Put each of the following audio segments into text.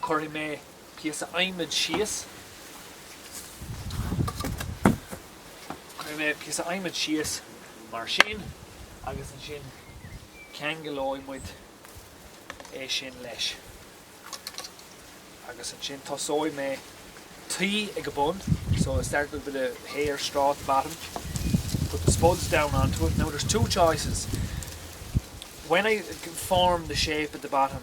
Cuirfidh mé píosa adhmaid síos. Cuirfidh mé píosa adhmaid síos mar sin agus ansin ceanglóidh muid é sin leis. Agus ansin tosóidh mé tuí ag a bun, so I start with a bit of hay or straw at the bottom, put the spuds down onto it. Now there's two choices, when I form the shape at the bottom,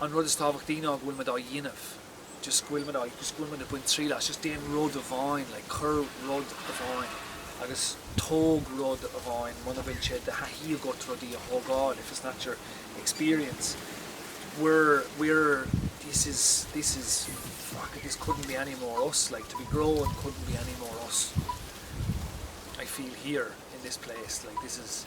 An rud is tábhachtaí ná go bhfuil muid á dhéanamh, just go bhfuil muid á, just go bhfuil muid ag baint triail as, just déan rud amháin, like cuir rud amháin agus tóg rud amháin muna bhfuil sé de thaithí agat rudaí a thógáil, if it's not your experience, we're, we're, this is, this is, fuck it, this couldn't be any more us, like to be growing couldn't be any more us, I feel here in this place, like this is.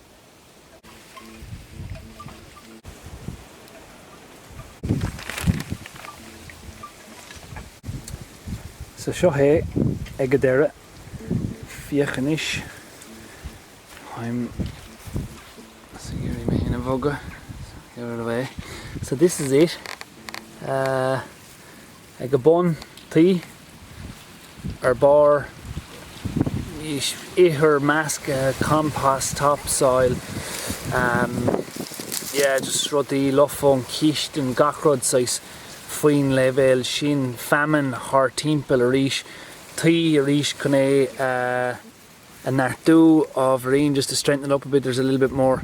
So seo é ag a deireadh. Féach anois. I'm gonna é a bhogadh. So here are they. So this is it. Ag a bun, tuí, ar bharr, ithir measctha, compost, topsoil, em, yeah, just rudaí lofa ón chistin, gach rud saghas faoin leibhéal sin, feamainn thart timpeall arís, tuí arís chun é a neartú ábhairín, just to strengthen it up a bit, there's a little bit more,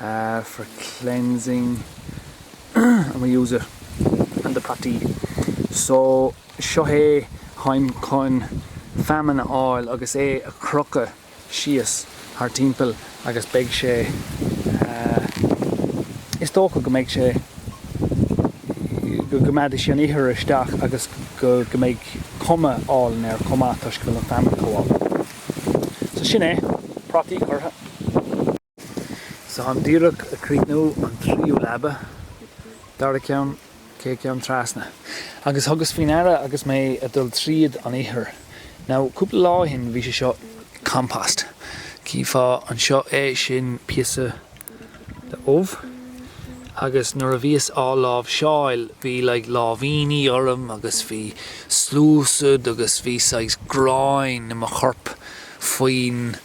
ah for cleansing and we use it on the prátaí so seo é táim chun feamainn a fháil agus é a chrochadh síos thart timpeall agus beidh sé ah is dócha go mbeidh sé go gcoimeádfaidh sé an ithir isteach agus go go mbeidh cuma álainn air chomh maith toisc go bhfuil an feamainn chomh hálainn so sin é prátaí curtha. So anois díreach ag críochnú an tríú leaba, dara ceann, céad ceann trasna, agus thugas faoi ndeara agus mé ag dul tríd an ithir. Now cúpla lá ó shin bhí sé seo compost. Chífeá anseo é, sin píosa de ubh agus nuair a bhíos á láimhseáil bhí like láimhíní orm agus bhí sluasad agus bhí saghas gráin i mo chorp faoin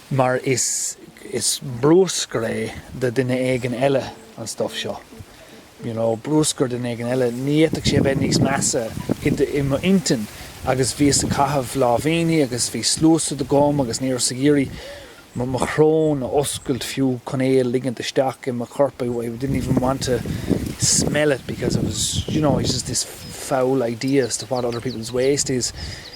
mar is is brúscar é do duine éigin eile an stuff seo, you know, brúscar do dhuine éigin eile, ní fhéadfadh sé a bheith níos measa i m'intinn agus bhíos ag caitheamh láimhíní agus bhí sluasad agam agus ní rabhas ag iarraidh mo mo shrón a a oscailt fiú chun é a ligint isteach i mo chorp, I I didn't even want to smell it because I was, you know, I was just this foul idea as to what other people's waste is.